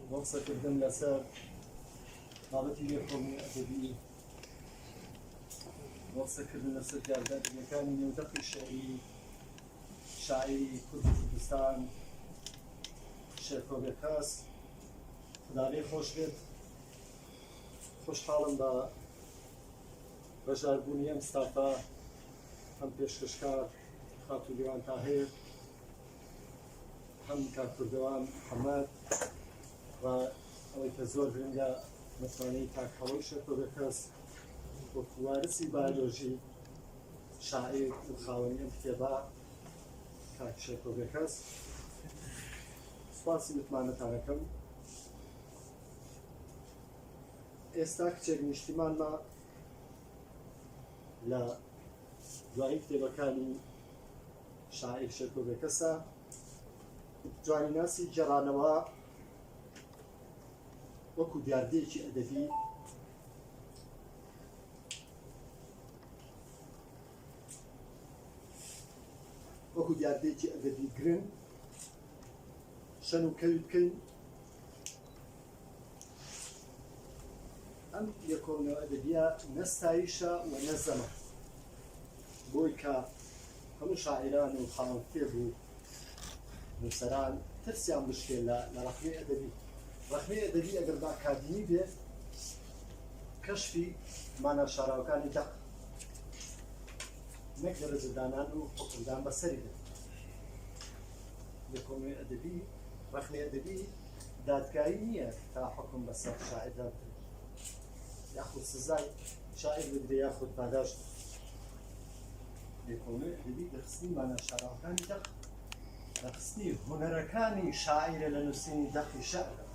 بۆ قسەکردن لەسەر بابەتی لێکۆڵینەوە ئەدەبی بۆ قسەکردن لەسەر دیاردە ئەدەبیەکانی نێودەقی شعری شاعیری کوردی کوردستان شێرکۆبێ کاس خداێ خۆش بێت خۆشحاڵم بە بەشداربوونی ئەم ستافە ئەم پێشکەشکار خاتولیوان تاهەیە هەم کاک کوردەوان حەمەد و ئەوەی کە زۆر گرنگە متمانەی کاک هەڵەی شەکۆگە کەس وەکو وارسی بایۆلۆژی شاعیر و خاوەنی ئەم کتێبە کاک شەکۆگە کەس سپاسی متمانەتانەکەم ئێستا کچێک نیشتیمانمە لە دوایی کتێبەکانی شاعیر شێرکۆ بێکەسە جوانیناسی گێڕانەوە وەکو دیاردەیەکی ئەدەبی وەکو دیاردەیەکی ئەدەبی گرنگ شەن و کەوی بکەین ئەم لێکۆڵینەوە ئەدەبییە نە ستایشە و نە زەمە بۆی کە هەموو شاعیران و خاوەن کتێب و نووسەران ترسیان بشکێ لە لە ڕەخنەی ئەدەبی ڕەخنەی ئەدەبی ئەگەر بە ئەکادیمی بێ کەشفی مانا شاراوەکانی دەق نەک دەرەجەدانان و حکمدان بەسەری دێت لێکۆڵینەوەی ئەدەبی ڕەخنەی ئەدەبی دادگایی نییە تا حکم بەسەر شاعردا بدرێت یاخود سزای شاعر بدرێ یاخود پاداش لێکۆڵێ دەبی دەخستنی مانە شاراوەکانی دەق دەخستنی هوەرەکانی شاعرە لە نووسینی دەقی شعرە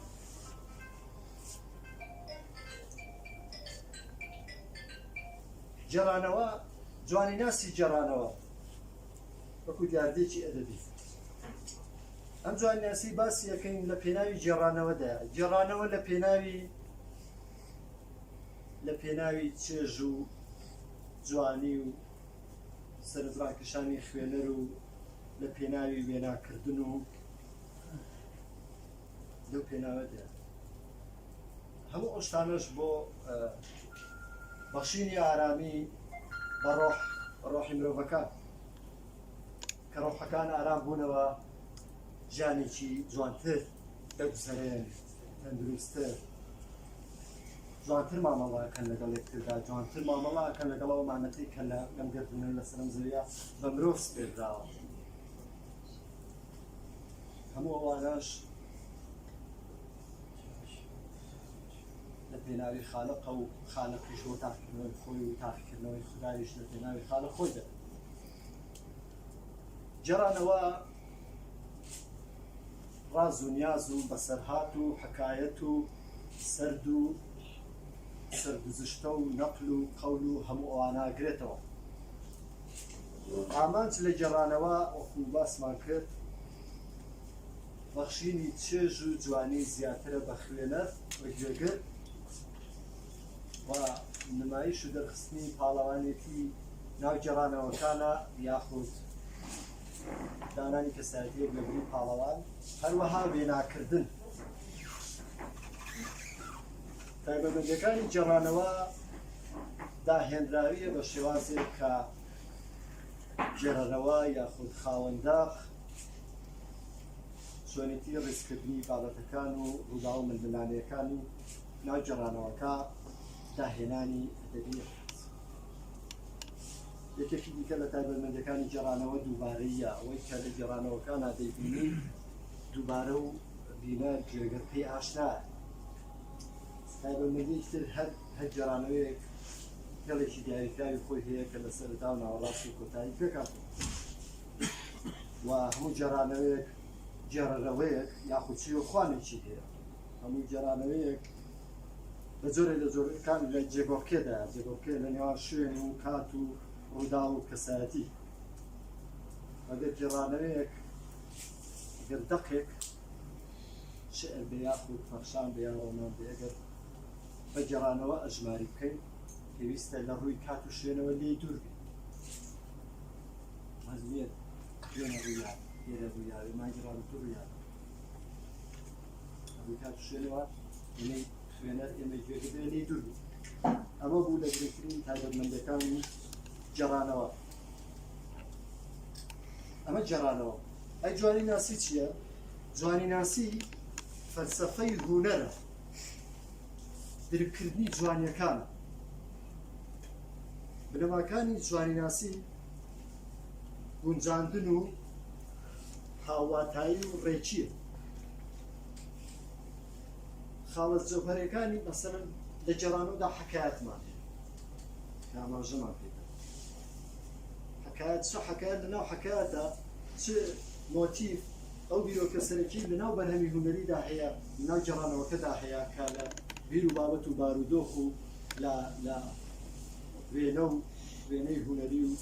جێرانەوە جوانی ناسی جێرانەوە وەکو دیاردێکی ئەدەبی ئەم جوانناسی باسی ئەەکەین لە پێناوی گێڕانەوەدا گێڕانەوە لە پێناوی لە پێناوی چێژ و جوانی و سەرنجڕاکشانی خوێنەر و لە پێناوی وێناکردن و لەو پێناوەدا هەموو ئەوشتانەش بۆ بەخشینی ئارامی بە ڕۆح ڕۆحی مرۆڤەکە کە ڕۆحەکان ئارام بوونەوە ژیانێکی جوانتر دەگوزەرێن تەندروستتر جوانتر مامەڵاکەن لەگەڵ یەکتردا جوانتر مامەڵاکەن لەگەڵ ئەو مانەتی کە لە لەم گردونە لە سەرم زەویە بە مرۆڤ سپێردراوە هەموو ئەوانەش لە پێناوی خالقە و خالقیش و تاقیکردنەوەی خۆی و تاقیکردنەوەی خدایش لە پێناوی خالە خۆی دەبێت گێڕانەوە ڕاز و نیاز و بەسەرهات و حەکایەت و سەرد و سەرگوزشتە و نەقل و قەول و هەموو ئەوانە گرێتەوە ئامانج لە گێڕانەوە وەکو باسمان کرد بەخشینی چێژ و جوانی زیاترە بە خوێنەر بە گوێگر و نمایش و دەرخستنی پاڵەوانێتی ناو گێڕانەوەکانە یاخود دانانی کەسایەتیەک لە بری پاڵەوان هەروەها وێناکردن تایبەتمەندەکانی گێڕانەوە داهێنراویە بە شێوازێک کە گێڕەرەوە یاخود خاوەنداق چۆنێتی ڕیزکردنی بابەتەکان و ڕوودا و ململانەکانی لە گێڕانەوەکە داهێنانی ئەدەبی یەکێکی دیکە لە تایبەتمەندەکانی گێڕانەوە دووبارەیە ئەوەی کە لە گێڕانەوەکان نادەیبینی دووبارە و بینە جێگە پێی ئاشنا تایبەتمەندی تر هەر هەر گێڕانەوەیەک هێڵێکی دیاریکراوی خۆی هەیە کە لە سەردا و ناوەڕاست و کۆتایی پێکات و هەموو جێڕانەوەیەک جێڕەوەیەک یاخود چی و خوانێکی هەیە هەموو گێرانەوەیەک لە جۆرێ لە جۆرەکان لە جێگۆڕکێدا جێگۆڕکێ لە نێوان شوێن و کات و ڕوودا و کەسایەتی ئەگەر گێڕانەوەیەک گەر دەقێک شعر بێ یاخود پەخشان بێ یا ڕۆمان بێ ئەگەر بە گێڕانەوە ئەژماری بکەین پێویستە لە ڕووی کات و شوێنەوە لێ دوور بێت مەزمیێت شوێنە ڕوویان لێرە ڕوویاێ ماگیڕان دووریان ئەمە بوو لە گرنگترین تایبەتمەندەکانی جێڕانەوە ئەمە جێڕانەوە ئەی جوانی ناسی چییە؟ جوانی ناسی فەلسفەی هوونەرە درکردنی جوانیەکان بنەماکانی جوانی ناسی گونجاندن و هاوواتایی و ڕێچیە خاڵە جەوهرەکانی مەسەرم لە جێرانەوەدا حکایەتمان ئاماژەمان پێ حکایەت چ حکایەت لەناو حکایەتە چ مۆتیف ئەو بیرۆکە سەرەکی لەناو بەرهەمی هوەریدا هەیە لەناو جێرانەوەکەدا هەیە کە لە بیر و بابەت و بارودۆخ و لە لە وێنە و وێنەی هوەری و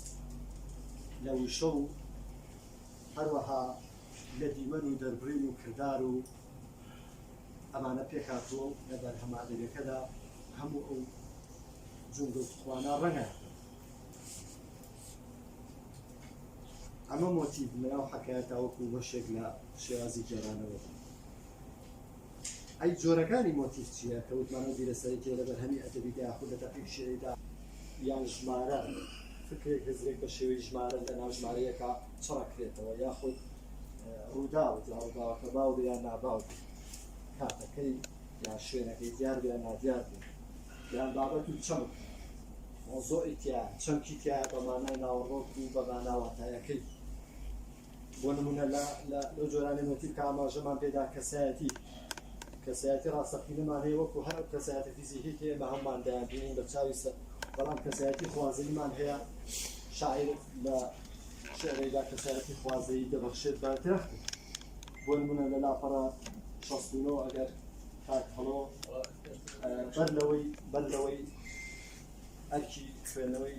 لە وشە و هەروەها لە دیمەن و دەربڕین و کردار و ئەمانە پێکهاتووە و لە بەرهەمە ئەدەبیەکەدا هەموو ئەو جومگە و توانە ڕەنگە ئەمە مۆتیڤ لەناو حەکایەتاوەکو بەشێک لە شێوازی گێرانەوەدا ئەی جۆرەکانی مۆتیف چییە کە وتمان ئەو بیرە سەرەکییە لە بەرهەمی ئەدەبیدا یاخود لە دەقی شیعریدا؟ یان ژمارە، فکرێک هزرێک بە شێوەی ژمارە لە ناو ژمارەیەکا چڕەکرێتەوە، یاخود ڕووداو، جا ڕووداوەکە باو بێ یان ناباو بێ، کاتەکەی یان شوێنەکەی دیار بێ یان نادیار بێ، یان بابەت و چەمک، مەوزوعی تیایە، چەمکی تیایە بە مانای ناوەڕۆک و بە مانا واتایەکەی. بۆ نموونە لە لە لەو جۆرە نێگەتیڤ کە ئاماژەمان پێدا کەسایەتی کەسایەتی ڕاستەقینەمان هەیە وەکو هەر ئەو کەسایەتە فیزیکی کە ئێمە هەموومان دەیانبینین بە چاوی سەر بەڵام کەسایەتی خوازەییمان هەیە شاعیر لە شعرێکدا کەسایەتی خوازەیی دەبەخشێت بە درەخت بۆ نموونە لە لاپەڕە 69 ئەگەر کاک هەڵۆ بەر لەوەی بەر لەوەی ئەرکی خوێندنەوەی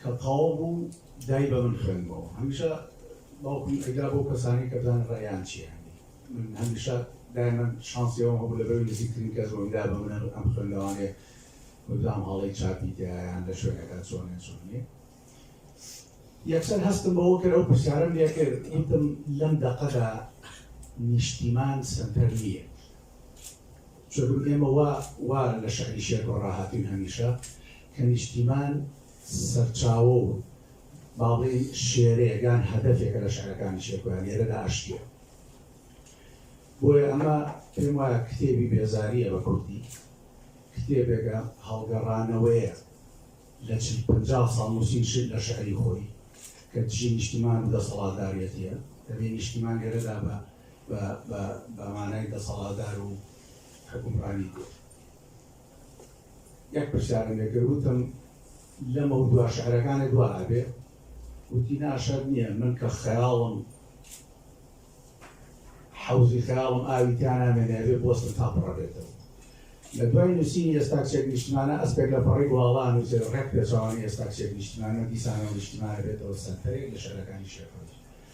کە تەواو بوو دای بە من خوێندمەوە هەمیشە باوکم ئەیدا بۆ کەسانی کە بزانن ڕێیان چیە من هەمیشە دایمەن شانسی ئەوم هەبوو لەبەر نزیکترین کەس بۆم دا بە من ئەم خوێندەوانێ بزانم هەڵەی چاپی تیایان لە شوێنەکە چۆنێ چۆن نیە یەکسەر هەستم بەوە کرد ئەو پرسیارم لێ کرد وتم لەم دەقەدا نیشتیمان سەنتەر نییە چونکو ئێمە وا وا لە شەئنی شێرکۆ ڕاهاتووین هەمیشە کە نیشتیمان سەرچاوە و با بڵێین شێرەیەک یان هەدەفێکە لە شەعرەکانی شێرکۆیان لێرەدا ئەشکێ. بۆیە ئەمە پێم وایە کتێبی بێزارییە بە کوردی، کتێبێکە هەڵگەڕانەوەیە لە چل پەنجا ساڵ نووسین شت لە شەعری خۆی کە دژی نیشتیمان و دەسەڵاتداریەتییە، دەبێ نیشتیمان لێرەدا بە بە بە مانای دەسەڵاتدار و حوکمڕانی کورد. یەک پرسیارم لێ کرد وتم لەمەو دوا شعرەکانێ دوا ئەبێ وتی نا شەرت نییە من کە خەیاڵم حەوزی خەیاڵم ئاوی تیا نامێنێ ئەبێ بۆستم تا پڕە بێتەوە. لە دوای نووسینی ئێستا چێک نیشتمانە ئەسپێک لە پەڕی گواڵا نووسێ ڕێک پێچەوانەی ئێستا چێک نیشتمانە دیسانەوە نیشتمانە بێتەوە سەنتەرێک لە شعرەکانی شێخ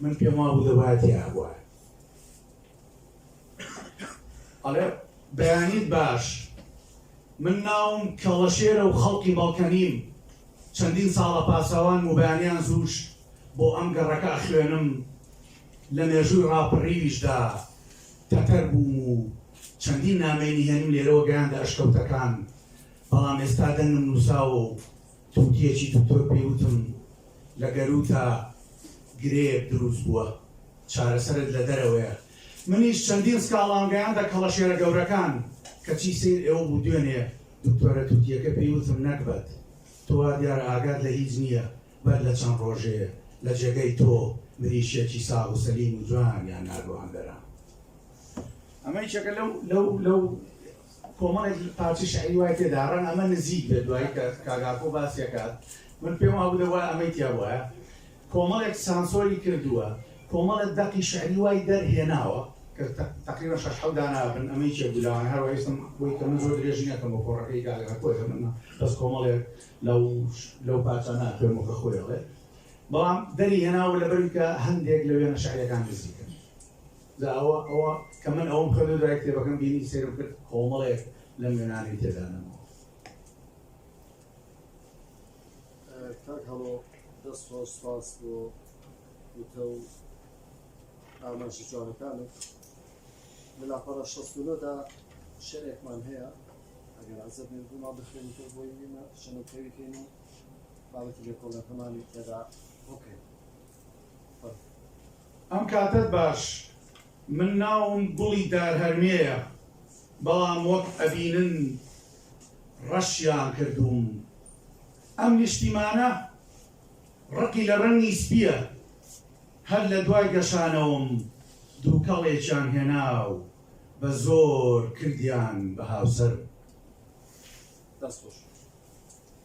من پێم وابوو دەبایە تیابوایە. ئەڵێ بەیانیت باش من ناوم کەڵەشێرە و خەڵکی بەڵکەنیم چەندین ساڵە پاسەوان و بەیانیان زووش بۆ ئەم گەڕەکە ئەخوێنم لە مێژووی ڕاپەڕیویشدا تەتەر بووم و چەندین نامەی نهێنیم لێرەوە گەیاندە ئەشکەوتەکان بەڵام ئێستا دەنگم نووساوە و توتیەکی دکتۆر پێی وتم لە گەرووتا گرێیەک دروست بووە چارەسەرت لە دەرەوەیە منیش چەندین سکاڵام گەیاندە کەڵەشێرە گەورەکان کەچی سەیر ئێوە بوو دوێنێ دکتۆرە توتیەکە پێی وتم نەگبەت تۆ وا دیارە ئاگات لە هیچ نییە بەر لە چەند ڕۆژێ لە جێگەی تۆ مریشکێکی ساغ و سەلیم و جوانیان ناردوە هەندەران ئەمە یەکێکە لەو لەو لەو کۆمەڵێک پارچە شیعری وای تێدایە ڕەنگە ئەمە نزیک بێت دوایی کە کاک ئاکۆ باسی ئەکات من پێم وابوو دەبوایە ئەمەی تیا بوایە کۆمەڵێک سانسۆری کردووە کۆمەڵە دەقی شیعری وای دەرهێناوە کە تەقریبەن شەش حەوت داناوە بن ئەمە یەکێک بوو لەوانە هەر وایستم بۆی کە من زۆر درێژی نەکەم بۆ کۆڕەکەی کاک ئاکۆ دەمەنا بەس کۆمەڵێک لەو لەو پارچانە خوێنمەوە کە خۆی ئەڵێ بەڵام دەری هێناوە لەبەر کە هەندێک لە وێنە شیعرییەکان نزیکن جا ئەوە ئەوە کە من ئەوەم خوێند و دوای کتێبەکەم بینی سەیرم کرد کۆمەڵێک لەم وێنانەی تێدا نەماوە. کاک هەڵۆ دەست خۆش سپاس بۆ وتە و ئاماژە جوانەکانت لە لاپەڕە شەست و نۆدا شعرێکمان هەیە ئەگەر عەزەت نێت بووما بخوێنیتەوە بۆی وینە شەنەکەوی کەین و بابەتی لێکۆڵەکەمانی تێدا بکەین ئەم کاتەت باش من ناوم گوڵی دارهەرمێیە بەڵام وەک ئەبینن ڕەشیان کردووم ئەم نیشتیمانە ڕقی لە ڕەنگی سپیە هەر لە دوای گەشانەوەم دووکەڵێکیان هێناو بە زۆر کردیان بە هاوسەر دەستخۆش.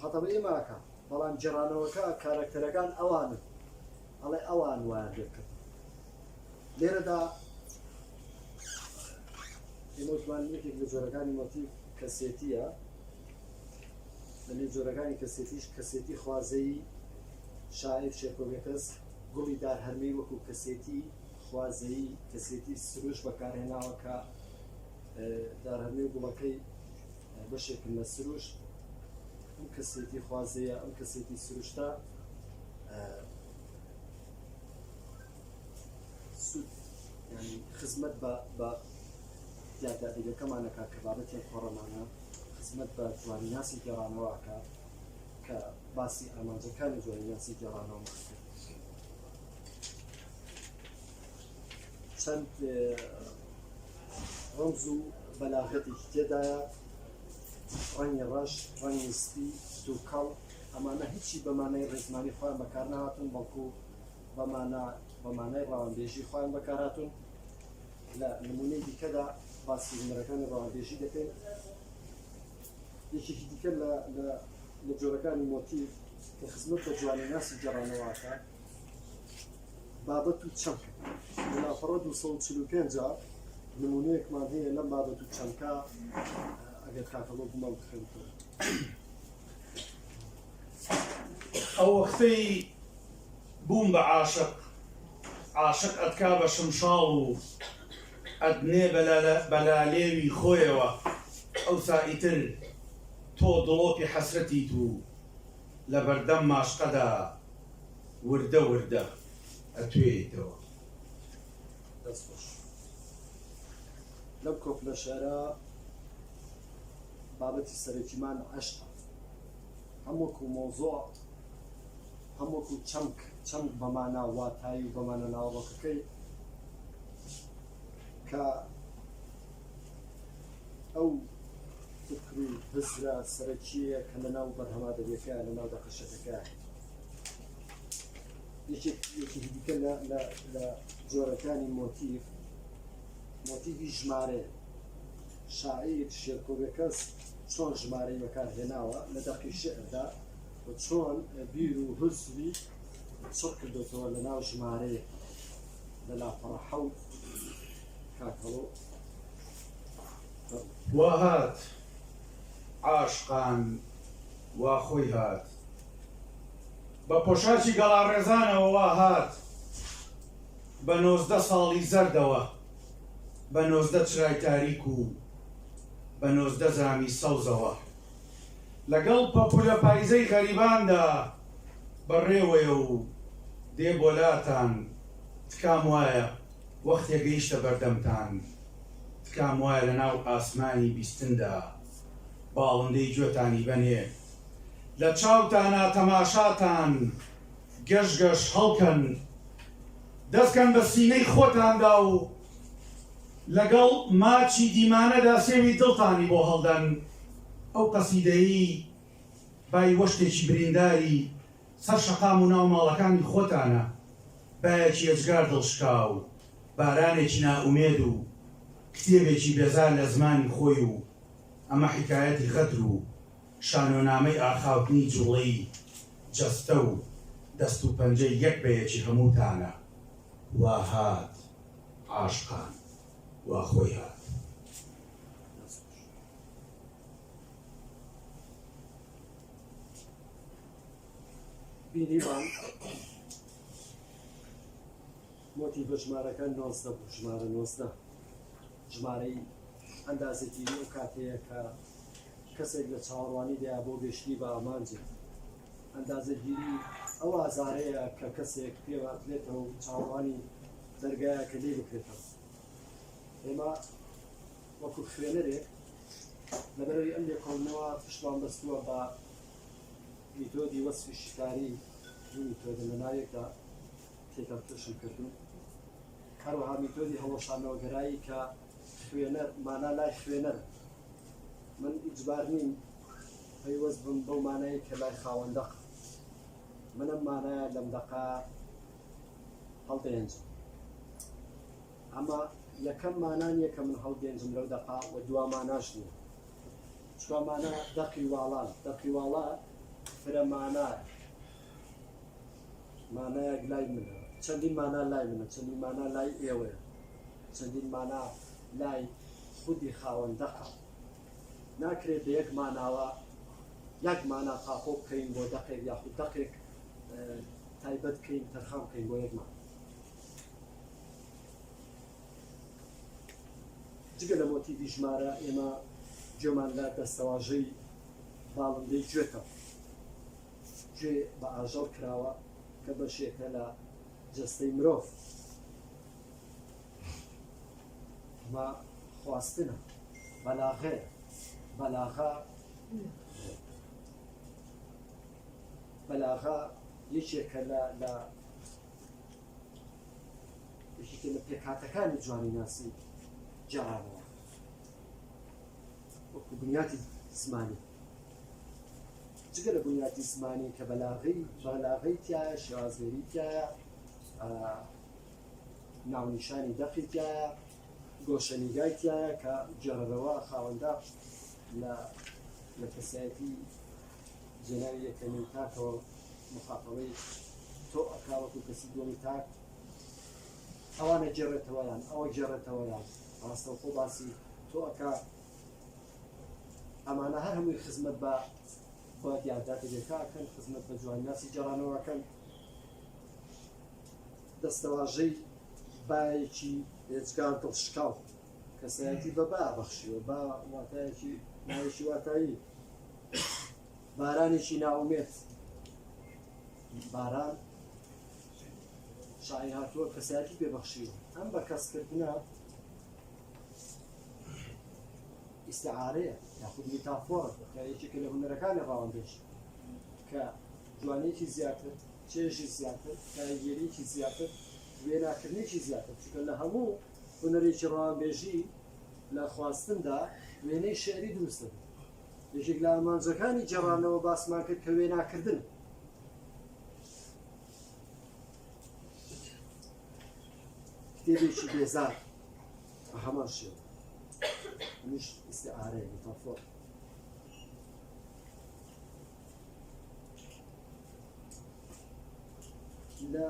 خەتەبەی ماکە بەڵام گێڕانەوەکە کارەکتەرەکان ئەوانن ئەڵێ ئەوان وایان لێ بکرد لێرەدا ئێمەوتمان یەکێک لە جۆرەکانی مۆتیڤ کەسێتیە لەێ جۆرەکانی کەسێتیش کەسێتی خوازەیی شاعر شێکۆگەکەس گوڵی دار هەرمەی وەکو کەسێتی خوازەیی کەسێتی سروش بەکارهێناوە کە دارهەرمی گوڵەکەی بەشێکن لە سروشت ئەم کەسێتی خوازەیە ئەم کەسێتی سروشتە سود ینی خزمەت بە یادادیگەکەمانەکە کە بابەتی خۆڕەمانە خزمەت بە جوانی ناسی گێڕانەوەکە کە باسی ئامانجەکانی جوانی ناسی گێڕانەوە کرد چەند ڕەمز و بەلاغەتێکی تێدایە ڕەنگی ڕەش ڕەنگی سپی دووکەڵ ئەمانە هیچی بەمانای ڕێزمانی خۆیان بەکار نهاتون بەڵکو بەمانە بەمانای ڕاوانبێژی خۆیان بەکاراتون لە نمونەی دیکەدا باسی هونەرەکانی ڕاوانبێژی دەکەین یەکێکی دیکە لە لە جۆرەکانی مۆتیف کە خزمەت بە جوانی ناسی جێڕانەوەکە بابەت و چەمکە لە لاپەڕە دوو سەد و چل و پێنج نموونەیەکمان هەیە لەم بابەت و چەمکە ئەگەر کاکەڵۆ بمان بخێن ئەو وەختەی بووم بە عاشق عاشق ئەتکا بە شمشاڵ و ئەدنێ بەلالێوی خۆیەوە ئەوسا ئیتر تۆ دڵۆپی حەسرەتیت و لە بەردەم ماشقەدا وردە وردە ئەتوێیتەوە. دەست خۆش لەم کۆپلە شعرە بابەتی سەرەکیمان عەشقە هەم وەکو مۆزۆع هەم وەکو چەمک چەمک بەمانە واتایی و بەمانە ناوڕۆکەکەی کە ئەو فکر و هزرە سەرەکیەیە کە لەناو بەرهەمە ئەدەبیەکەیان لەناو دەقەشەکەکە یەکێکی دیکە لە جۆرەکانی مۆتیف مۆتیفی ژمارە شاعیر شێرکۆبەکەس چۆن ژمارەی بەکار هێناوە لە دەقی شعردا و چۆن بیر و هزری چڕ کردێتەوە لە ناو ژمارەیە لە لاپەڕە حەوت کاکەڵۆ وا هات عاشقان وا خۆی هات بە پۆشاچی گەڵاڕێزانەوە وا هات بە نۆزدە ساڵی زەردەوە بە نۆزدە چرای تاریک و بە نۆزدە زامی سەوزەوە لەگەڵ پەپولە پایزەی غەریباندا بەڕێوەیە و دێ بۆلاتان تکام وایە وەختێ گەیشتە بەردەمتان تکام وایە لە ناو ئاسمانی بیستندا باڵندەی گوێتانی بەنێ لە چاوتانا تەماشاتان گەش گەش هەڵکەن دەست کەن بە سینەی خۆتاندا و لەگەڵ ماچی دیمانەدا سێوی دڵتانی بۆ هەڵدەن ئەو قەسیدەیی بای وەشتێکی برینداری سەر شەقام و ناو ماڵەکانی خۆتانە، بایەکی ئێجگار دڵشکاو، بارانێکی نائومێد و کتێبێکی بێزار لە زمانی خۆی و ئەمە حیکایەتی غەدر و شانۆنامەی ئاخاوتنی جوڵەی جەستە و دەست و پەنجەی یەک بە یەکی هەمووتانە. وا هات عاشقان، وا خۆی هات. بینیمان مۆتی بە ژمارەکە نۆزدە بوو ژمارە نۆزدە ژمارەی ئەندازێتی و کاتەیە کە کەسێک لە چاوەڕوانی دەیا بۆ گەشتنی بە ئامانجێت ئەندازەگیری ئەو ئازارەیە کە کەسێک پێواتلێتەوە و چاوەڕوانی دەرگایە کە لێ بکرێتەوە ئێمە وەکو خوێنەرێک لەبەرەوی ئەم لێکۆڵنەوە پشتمان بەستووە بە میتۆدی وەسفی شیکاری دوو میتۆدە لە ناوێکدا تێکەڵ توشم کردوون هەروەها میتۆدی هەڵۆشانەوەگەرایی کە خوێنەر مانا لای خوێنەر من ئیجبار نیم پەیوەست بم بەو مانایی کە لای خاوەندەق منم مانایە لەم دەقا هەڵدەێنجم ئەمە یەکەم مانا نیە کە من هەڵگێنجم لەو دەقە و دوا ماناش نیە چوا مانا دەقی واڵان دەقی واڵا فرە مانا مانایەک لای منە چەندین مانا لای منە چەندین مانا لای ئێوەیە چەندین مانا لای خودی خاوەن دەقە ناکرێت بە یەک ماناوە یەک مانا قاپۆ بکەین بۆ دەقێک یاخود دەقێک تایبەت بکەین تەرخان بکەین بۆ یەکمان جگە لە مۆتیڤی ژمارە ئێمە گوێمان لە دەستەواژەی باڵندەی گوێتەوە گوێ بە ئاژەڵ کراوە کە بەشێکە لە جستەی مرۆڤ ئەمە خواستنە بەلاغێ بەلاغا بەلاغا یەکێکە لە لە یەکێکە لە پێکهاتەکانی جوانیناسی جەرانەوە وەکو بنیاتی زمانی جگە لە بنیاتی زمانی کە بەلاغی بەلاغی تایە شێوازێری تایە ناونیشانی دەقی تایە گۆشەنیگای تایە کە جێڕەوە خاوەندا لە لە کەسایەتی جێناوی یەکەمین تاکەوە مخاتەبەی تۆ ئەکا وەکو کەسی دووەمی تاک ئەوانە جێڕێتەوە یان ئەوە جێڕێتەوە یان ڕاستەوخۆ باسی تۆ ئەکا ئەمانە هەر هەمووی خزمەت بە بە دیارداتەکەکەن خزمەت بە جوانناسی جارانەوەکەن دەستەواژەی باەکی هێچگان دڵ شکاو کەسایەتی بە با بەخشیوە با واتایەکی ناوێکی واتایی بارانێکی نائومێد باران شاعیر هاتووە کەسایەتی پێبەخشیوە ئەم بە کەسکردە ئیسعاەیە یاخود میتافۆر یەکێکە لە هونەرەکانی ڕاوەندێش کە جوانێکی زیاتر چێژی زیاتر کاریگەریکی زیاتر وێناکردنێکی زیاتر چکە لە هەموو هونەرێکی ڕاوانبێژی لە خواستندا وێنەی شعری دروستە یەکێک لە ئامانجەکانی گێڕانەوە باسمان کرد کە وێناکردن کتێبێکی بێزار بە هەمان شێوە منیش ئیسعارەیە متافۆر لە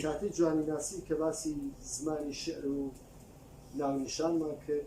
کاتی جوانی ناسی کە باسی زمانی شعر و ناونیشانمان کرد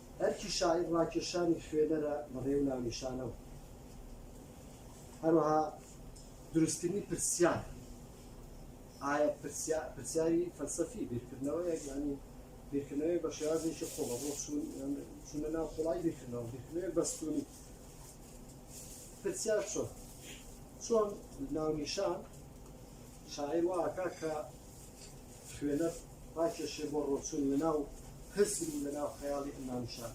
ئەرکی شاعیر ڕاکێشانی خوێنەرە لە ڕێ و ناونیشانەوە. هەروەها دروستکردنی پرسیار ئایا پرسیاری فەلسەفی بیرکردنەوە یەکزانی بیرکردنەوەی بە شێوازێکی خۆڵە بۆ چونە ناو خۆڵای بیرکردنەوە بیرکردنەوەی بەستونی پرسیار چۆن چۆن ناونیشان شاعیر واکە کە خوێنەر ڕاکێشێ بۆ ڕۆچوون لە ناو هزر و لە ناو خەیاڵی ئەمانشان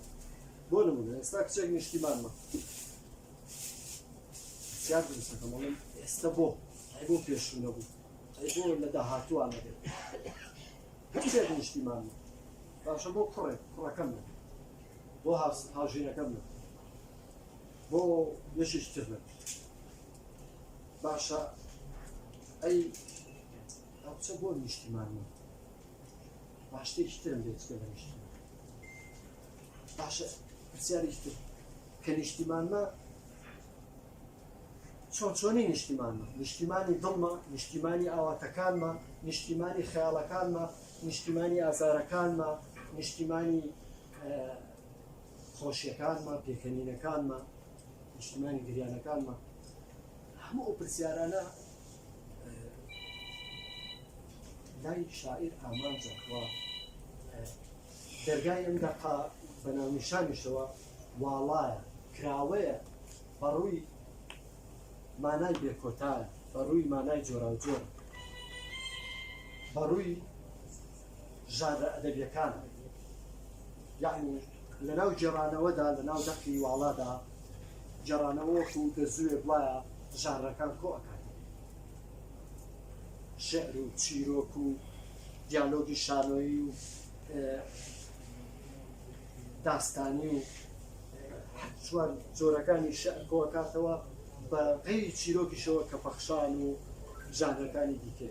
بۆ نمونە ئێستا کچێک نیشتیمانمە زیاد دروستەکەم بڵێم ئێستا بۆ ئەی بۆ پێشوو نەبوو ئەی بۆ لە داهاتووان نەبێت هەچێت نیشتیمان باشە بۆ کوڕێک کوڕەکەم نە بۆ هاوژینەکەم نە بۆ یەشیش تر نە باشە ئەی هەوچە بۆ نیشتیمان نیە با شتێکی ترم لێ چکە لە نیشتیمان باشە پرسیارێکی تر کە نیشتیمانمە چۆن چۆنی نیشتیمانمە نیشتیمانی دڵمە نیشتیمانی ئاواتەکانمە نیشتیمانی خەیاڵەکانمە نیشتیمانی ئازارەکانمە نیشتیمانی خۆشیەکانمان پێکەنینەکانمان نیشتمانی گریانەکانمان هەموو ئەو پرسیارانە لای شاعیر ئامانجەکەوە دەرگای ئەم دەقا بە ناونیشانیشەوە واڵایە کراوەیە بەڕووی مانای بێکۆتایە بەڕووی مانای جۆراوجۆر بەڕووی ژانرە ئەدەبییەکان یەعنی لەناو گێڕانەوەدا لەناو دەقی واڵادا گێڕانەوە وەکوو گەزووێک وایە ژانرەکان کۆ ئەکات شعر و چیرۆک و دیالۆگی شانۆیی و داستانی و چوار جۆرەکانی شعر کۆ ئەکاتەوە بە غەیری چیرۆکیشەوە کە پەخشان و ژانرەکانی دیکە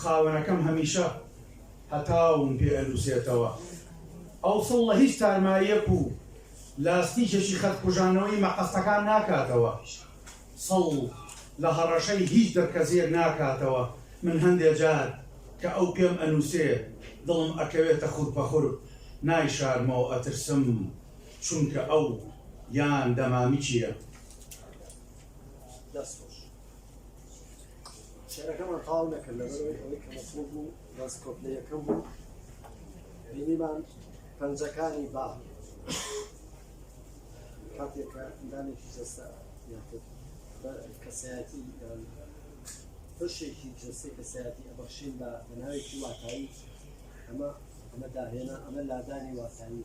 خاوەنەکەم هەمیشە هەتاوم پێ ئەنووسێتەوە. ئەوسڵ لە هیچ تارماییەک و لاستیکێکی خەت کوژانەوەی مەقەستەکان ناکاتەوە. سڵ لە هەڕەشەی هیچ دڕکەزیەک ناکاتەوە. من هەندێ جار کە ئەو پێم ئەنووسێ دڵم ئەکەوێتە خورپەخورپ، نایشارمەوە ئەترسم چونکە ئەو یان دەمامکیە. دەست خۆش. شعرەکەمان تاو نەکرد لەبەرەوەی ئەوەی کە مەسڵ بوو بەس کۆپلە یەکەم بوو بینیمان پەنجەکانی با کاتێک کە ئەندامێکی جەستە یاخود کەسایەتی بەشێکی جەستەی کەسایەتی ئەبەخشین بە بەناوێکی واتایی ئەمە ئەمە داهێنا ئەمە لادانی واتایی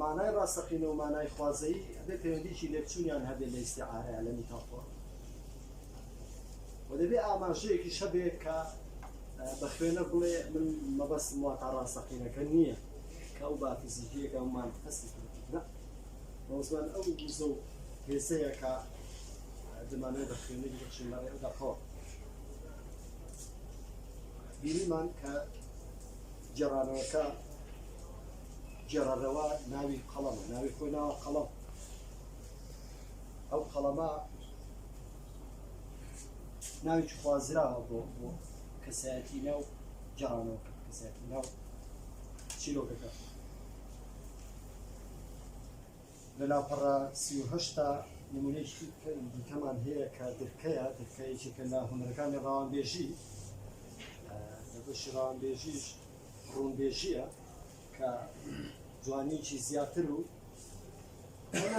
مانای ڕاستەقینە و مانای خوازەیی ئەبێ پەیوەندیکی لێکچوونیان هەبێت لە ئیستیعارەیان لە میتافۆر و دەبێ ئاماژەیەکیش هەبێت کە بە خوێنە بڵێ من مەبەستم وا تا ڕاستەقینەکە نییە کە ئەو بافزیکیەکە ئەومان هەستی بەزمان ئەو گوزە و هێزەیە کە دەمانێت بە خوێنی بخشین لە ڕێ دەخۆ بیریمان کە گێڕانەوەکە گێڕەرەوە ناوی قەڵەمە ناوی خۆی ناوە قەڵەم ئەو قەڵەمە ناوی خوازراوە بۆ بۆ کەسایەتی ناو جارانەوە کەسایەتی ناو چیرۆکەکە لە لاپەڕە سی و هەشت دا نموونەیەکی دیکەمان هەیە کە درکەیە درکە یەکێکە لە هونەرەکانی ڕەوانبێژی لە بەشی ڕەوانبێژیش ڕوونبێژیە کە جوانیکی زیاتر و